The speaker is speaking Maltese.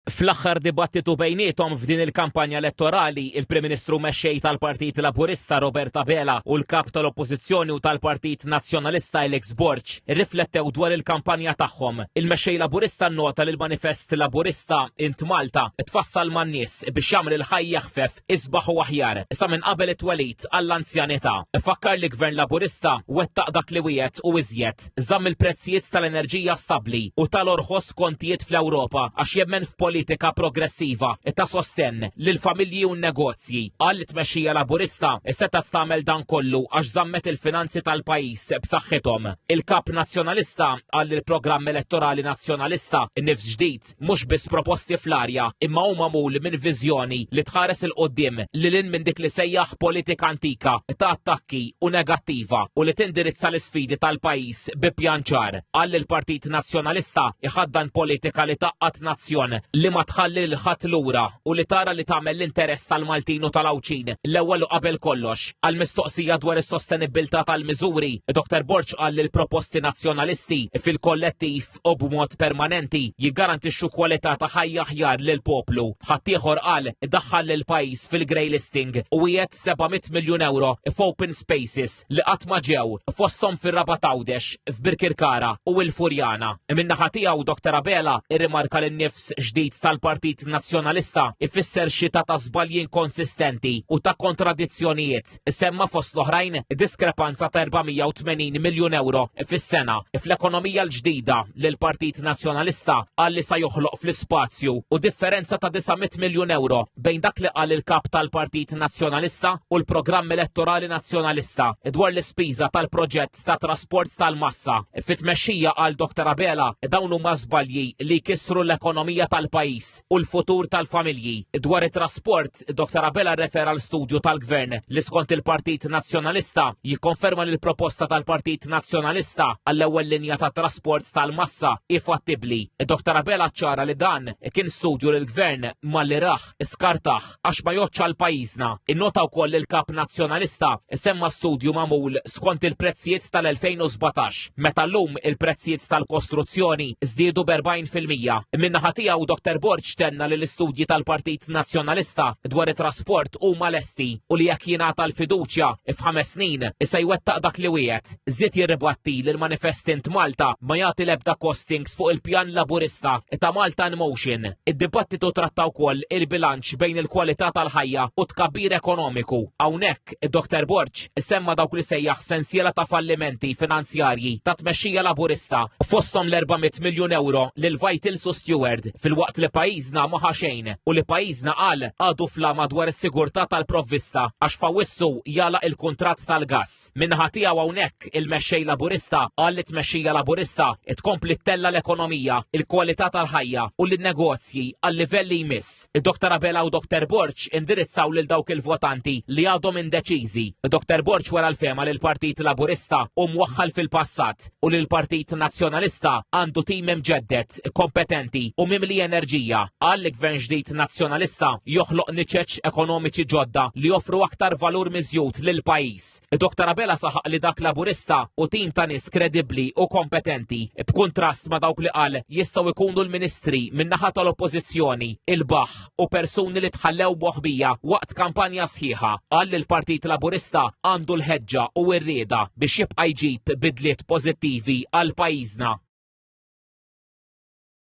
Fl-aħħar dibattitu bejniethom f'din il-kampanja elettorali, il-Prim Ministru mexxej tal-Partit Laburista Robert Abela u l-Kap tal-Oppożizzjoni u tal-Partit Nazzjonalista Alex Borg irriflettew dwar il-kampanja tagħhom. Il-Mexxej Laburista nnota li l-manifest Laburista Int Malta tfassal man-nies biex jagħmel il-ħajja ħfef, isbaħ u aħjar sa minn qabel it-twelid għall-anzjanità. Fakkar li Gvern Laburista wettaq dak li wiegħed u iżjed. Lambert żamm il-prezzijiet tal-enerġija stabbli u tal-orħos kontijiet fl-Ewropa għax jemmen f'politika progressiva ta' sostenn lill-familji u n-negozji. Qal li tmexxija Laburista setgħet tagħmel dan kollu għax żammet il-finanzi tal-pajjiż b'saħħithom. Il-Kap Nazzjonalista qal li l-programm elettorali Nazzjonalista, Nifs Ġdid, proġett mhux biss proposti fl-arja imma hu magħmul minn viżjoni li tħares 'il quddiem lil hinn minn dik li sejjaħ politika antika ta' attakki u negattiva u li tindirizza l-isfidi tal-pajjiż bi pjan ċar. Qal li l-Partit Nazzjonalista iħaddan politika li tgħaqqad nazzjon li ma tħalli lil ħadd lura u li tara li tagħmel l-interess tal-Maltin u tal-Għawdxin l-ewwel u qabel kollox. Għal mistoqsija dwar is-sostenibbiltà tal-miżuri, Dr. Borg qal li l-proposti Nazzjonalisti fil-kollettiv fil-fatt u b'mod permanenti jiggarantixxu kwalità ta' ħajja aħjar lil poplu. Ħaddieħor qal daħħal lil pajjiż fil-grey listing u wiegħed 700 miljun euro f'open spaces li qatt ma ġew fosthom fir-Raba Tawdex, f'Birkirkara u il-Furjana. Min-naħa tiegħu Dr. Abela irrimarka li nifs ġdid tal-Partit Nazzjonalista ifisser xita ta' żbalji inkonsistenti u ta' kontradizzjonijiet Isemma fost l-oħrajn diskrepanza ta' 480 miljun euro fis-sena fl-ekonomija l-ġdida li l-Partit Nazzjonalista qal li sa joħloq fl-ispazju u differenza ta' 900 miljun euro bejn dak li qal il-kap tal-Partit Nazzjonalista u l-programm elettorali Nazzjonalista dwar l-ispiża tal-proġett ta' trasport tal-massa. Fit-tmexxija għal Dr. Abela dawn huma żbalji li kisru l-ekonomija tal-pajjiż u l-futur tal-familji dwar it-trasport Fil-fatt, Dr. Abela rrefera l studju tal-Gvern li skont il-Partit Nazzjonalista jikkonferma li l-proposta tal-Partit Nazzjonalista għall-ewwel linja ta' trasport tal-massa hi fattibbli. Dr. Abela ċara li dan kien studju li l-Gvern malli raħ skartaħ għax ma joċċa l-pajjiżna. Innota wkoll il-Kap Nazzjonalista semma studju magħmul skont il-prezzijiet tal-2017, meta llum il-prezzijiet tal-kostruzzjoni żdiedu b'40 fil-mija. Min-naħa tiegħu Dr Borg tenna li l-istudji tal-Partit Nazzjonalista dwar it-trasport huma lesti u li jekk jingħata l-fiduċja f'ħames snin se jwettaq dak li wiegħed. Żied jirribatti li l-manifest Int Malta ma jagħti l-ebda costings fuq il-pjan Laburista ta' Malta in Motion. Id-dibattitu tratta wkoll il-bilanċ bejn il-kwalità tal-ħajja u tkabbir ekonomiku. Hawnhekk Id-Doktor Borg semma dawk li sejjaħ sensiela ta' fallimenti finanzjarji tat-tmexxija Laburista, fosthom l-400 miljun ewro lil Vitals u Steward, filwaqt li pajjiżna ma ħa xejn u li pajjiżna qal għadu fl-għama dwar is-sigurtà tal-provvista għax f'Awwissu jagħlaq il-kuntratt tal-gass. Min-naħa tiegħu hawnhekk il-Mexxej Laburista qal li t-tmexxija Laburista tkompli ttella' l-ekonomija, il-kwalità tal-ħajja u lin-negozji għal livell li jmiss. Id-Doktor Abela u Doktor Borċ indirizzaw lil dawk il-votanti li għadhom indeċiżi. Doktor Borċ wara l-fema li l-Partit Laburista u mwaħħal fil-passat u li l-Partit Nazzjonalista għandu tim imġeddet, kompetenti u mimli enerġija. Qal li gvern ġdid Nazzjonalista joħloq niċeċ ekonomiċi ġodda li joffru aktar valur miżjud lil pajjiż. Dok Tarabella saħaq li dak Laburista u tim ta' nies kredibbli u kompetenti b'kuntrast ma' dawk li qal jistgħu jkunu l-ministri min-naħa tal-Oppożizzjoni, il-baħ u persuni li tħallew moħbija waqt kampanja sħiħa qal li l-Partit Laburista għandu l-ħeġġa u r-rieda biex jibqa' jġib bidliet pożittivi għal pajjiżna.